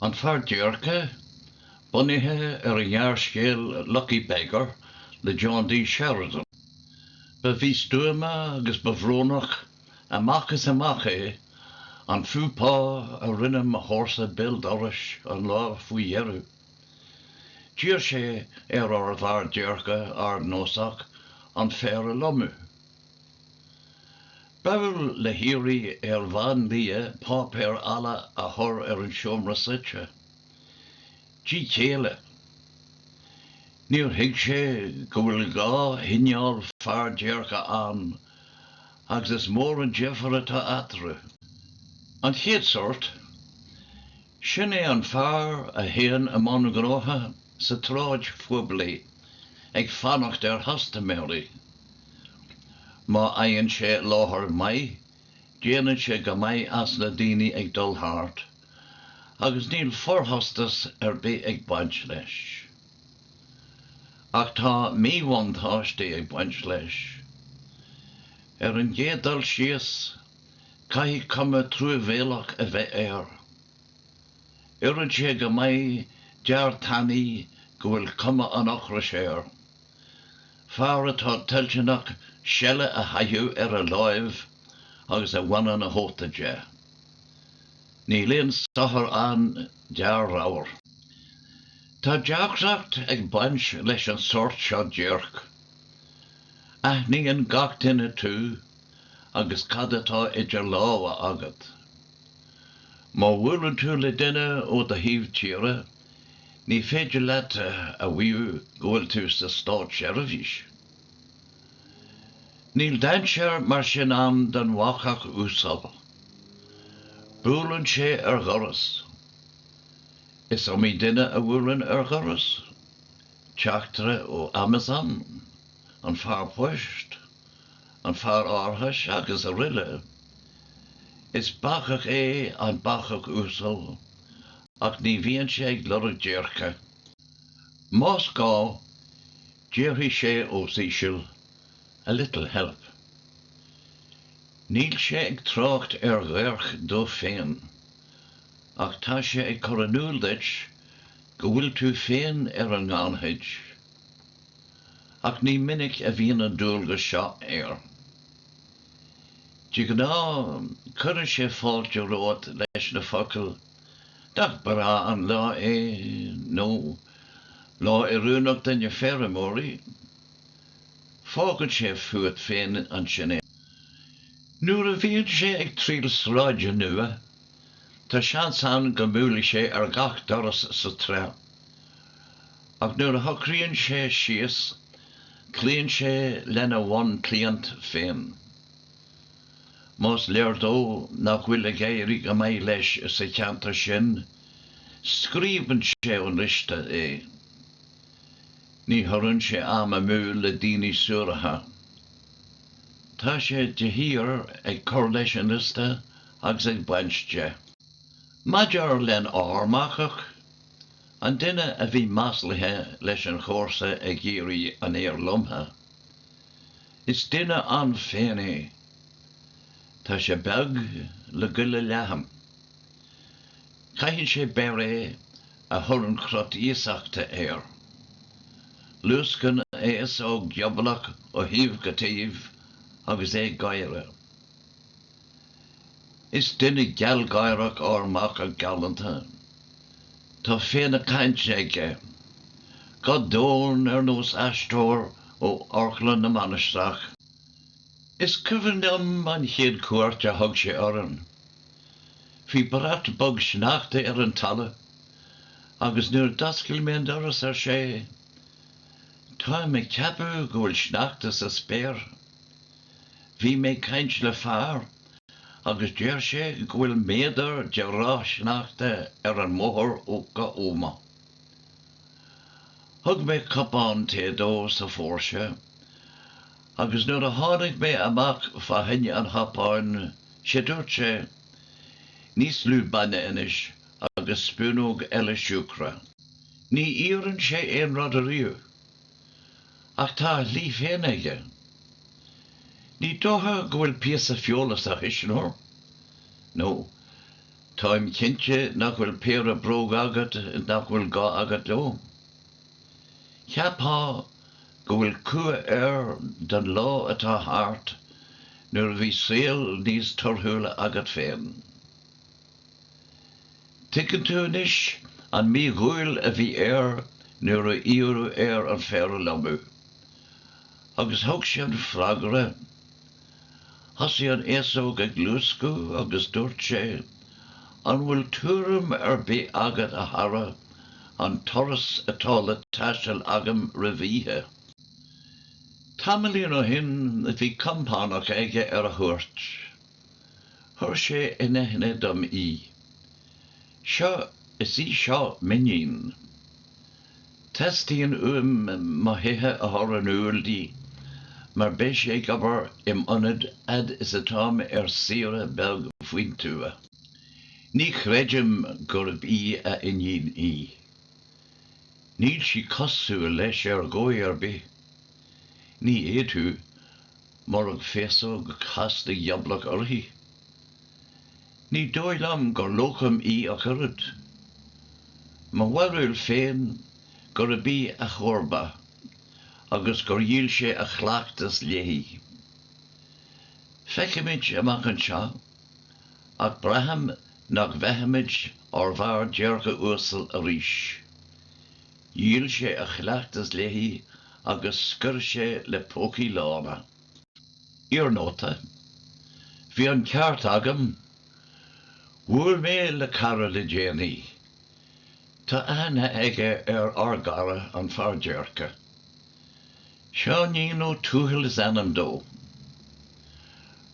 An Fear Déirce, bunaithe ar an ngearrscéal 'Lucky Beggar' le John D. Sheridan. Ba mhístuama agus ba bhrónach amach is amach é an faux pas a rinne mo chomharsa béal dorais an lá faoi dheireadh. D'iarr sé ar ár bhfear déirce ardnósach an féar a lomadh. Ba gheall le hiarraidh ar bhandia páipéar balla a chur ar an seomra suite. Díth céille. Níor thuig sé go bhfuil dhá chineál fear déirce ann agus is mór an difear atá eatarthu. An chéad sórt, sin é an fear a théann i mbun gnóithe sa tsráid phoiblí ag fanacht ar chustaiméirí. Má fhaigheann sé láthair maith, déanann sé go maith as na daoine ag dul thart, agus níl forchostas ar bith ag baint leis. Ach tá míbhuntáistí ag baint leis. Ar an gcéad dul síos, caithfidh cuma truamhéalach a bheith air. Oireann sé go maith d'fhear tanaí go bhfuil cuma an ocrais air. Fear atá toilteanach seile a chaitheamh ar a láimh agus a bhaineann a chóta de. Níl aon sochar ann d'fhear ramhar. Tá deacracht ag baint leis an sórt seo déirc. Aithníonn gach duine tú agus cad atá idir lámha agat. Má bhuaileann tú le duine ó do thaobh tíre, Ní féidir leat a mhaíomh go bhfuil tú sa státseirbhís. Níl dainséar mar sin ann don bhacach uasal. Buaileann sé ar dhoras. Is iomaí duine a bhuaileann ar dhoras, teachtaire ó Amazon, an fear poist, an fear árachais agus araile. Is bacach é an bacach uasal. ach ní bhíonn sé ag lorg déirce. Más gá, déarfaidh sé os íseal, 'A little help'. Níl sé ag trácht ar dhéirc dó féin, ach tá sé ag cur in iúl duit go bhfuil tú féin ar an ngannchuid. Ach ní minic a bhíonn an dualgas seo air. De ghnáth, cuireann sé fáilte romhat leis na focail. Nach breá an lá é, nó Lá oiriúnach do na feirmeoirí. Fágfaidh sé fút féin ansin é. Nuair a bhíonn sé ag triall sráide nua, tá seans ann go mbuailfidh sé ar gach doras sa tsráid, ach nuair a shocraíonn sé síos, cloíonn sé lena bhunchliant féin. Más léir dó nach bhfuil ag éirí go maith leis sa cheantar sin, scriosann sé ón liosta é. Ní thugann sé am amú do daoine suaracha. Tá sé de shíor ag cur leis an liosta agus ag baint de. Maidir lenár mbacach, an duine a bhí maslaithe leis an chomharsa ag iarraidh an fhéir lomtha, Is duine ann féin é. Tá sé beag le goile leathan. Caitheann sé beiréad a chuireann crot iasachta air. Luascann a fhéasóg ghiobalach ó thaobh go taobh agus é ag gáire. Is duine gealgháireach ár mbacach galánta. Tá féith na cainte aige. Guth domhain ar nós aisteoir ó Amharclann na Mainistreach. Is cuimhin liom an chéad chuairt a thug sé orainn. Bhí brat bog sneachta ar an talamh agus nuair d'oscail mé an doras ar sé, Táim ag ceapadh go bhfuil sneachta sa spéir. Bhí mé ag caint le fear agus deir sé go bhfuil méadar de ráth sneachta ar an mbóthar go hÓmaigh. Thug mé cupán tae dó sa phóirse agus nuair a tháinig mé amach fá choinne an chupáin sé dúirt sé, Níos lú bainne anois agus spúnóg eile siúcra. Ní iarrann sé aon rud ariamh. Ach tá a shlí féin aige. Ní dócha go bhfuil píosa feola sa chuisneoir, nó táim cinnte nach bhfuil péire bróg agat nach bhfuil gá agat leo. Cheapfá go bhfuil cumha air don lá atá thart nuair a bhí saol níos torthúla agat féin. Tuigeann tú anois an mídhúil a bhí air nuair a iarradh air an féar a lomadh. Agus thug sé an freagra. Thosaigh an fhéasóg ag luascadh agus dúirt sé, An bhfuil tuairim ar bith agat, a chara, an turas atá le taisteal agam roimh oíche? Tamaillín ó shin bhí compánach aige ar a chuairt. Chuir sé in aithne dom í. Seo, is í seo m'iníon. Teastaíonn uaim mo thithe a chur in iúl di mar beidh sé ag obair im ionad fhad is atá mé ar saoire beag faoin tuath. Ní chreidim gurb í a iníon í. Níl sí cosúil leis ar dhóigh ar bith. Ní fhéadfadh, murab féasóg chasta ghioblach uirthi. Ní dóigh liom gur locum í ach oiread. Mo bharúil féin gurb í a chomharba agus gur dhíol sé a chleachtas léi. Feicfimid amach anseo, ach braithim nach bhfeicfimid ár bhfear déirce uasal arís. Dhíol sé a chleachtas léi agus scoir sé le pócaí lána. Iarnóta, Bhí an ceart agam. Bhuail mé le cara le déanaí. Tá aithne aige ar ár gcara an fear déirce. Seáinín Ó Tuathail is ainm dó.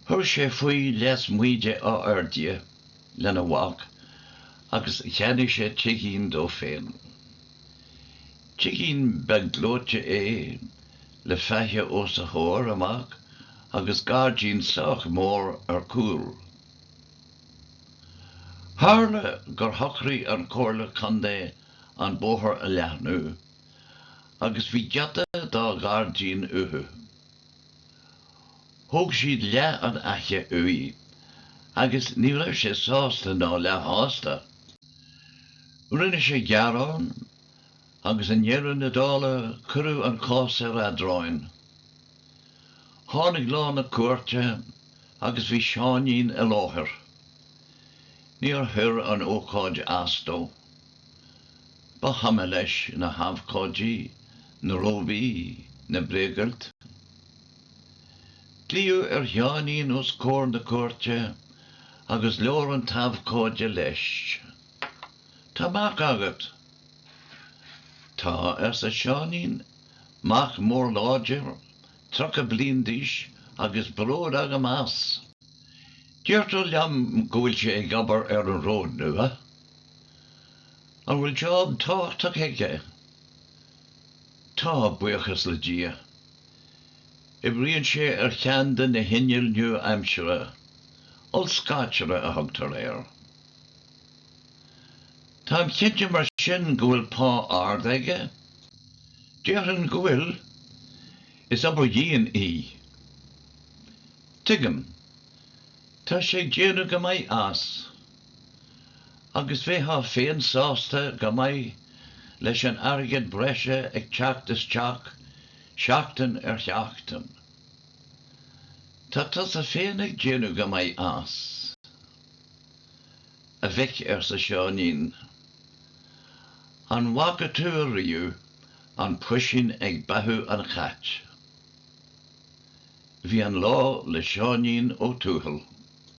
Chuir sé faoi lasmuigh de Áth Fhirdhia. lena mhac agus cheannaigh sé tigín dó féin. Tigín beag gleoite é le faiche os a chomhair amach agus gairdín sách mór ar cúl. Tharla gur shocraigh an Comhairle Contae an bóthar a leathnú agus bhí giota dá ghairdín uathu. Thóg siad leath an fhaiche uaidh agus ní raibh sé sásta ná leath-shásta. Rinne sé gearán agus i ndeireadh na dála cuireadh an cás ar eadráin. Tháinig lá na cúirte agus bhí Seáinín i láthair. Níor chuir an ócáid as dó. Ba chuma leis na habhcóidí, na róbaí, na bréagfhoilt. Glaodh ar Sheáinín os comhair na cúirte agus labhair an t-abhcóide leis. Tá mac agat? Tá, arsa Seáinín, mac mór láidir, tríocha bliain d'aois, agus bród agam as. Deirtear liom go bhfuil sé ag obair ar an ród nua An bhfuil job tábhachtach aige? Tá, buíochas le Dia. Oibríonn sé ar cheann de na hinnill nua-aimseartha, ollscaiteara a thugtar air. Táim cinnte mar sin go bhfuil pá ard aige? Déarfainn go bhfuil. Is obair dhian í. Tuigim. Tá sé ag déanamh go maith as. agus bheitheá féin sásta go maith leis an airgead breise ag teacht isteach, seachtain ar sheachtain. Tá tusa féin ag déanamh go maith as, a mhic, arsa Seáinín. An bhfaca tú ariamh an puisín ag beathú an chait? Bhí an lá le Seáinín Ó Tuathail.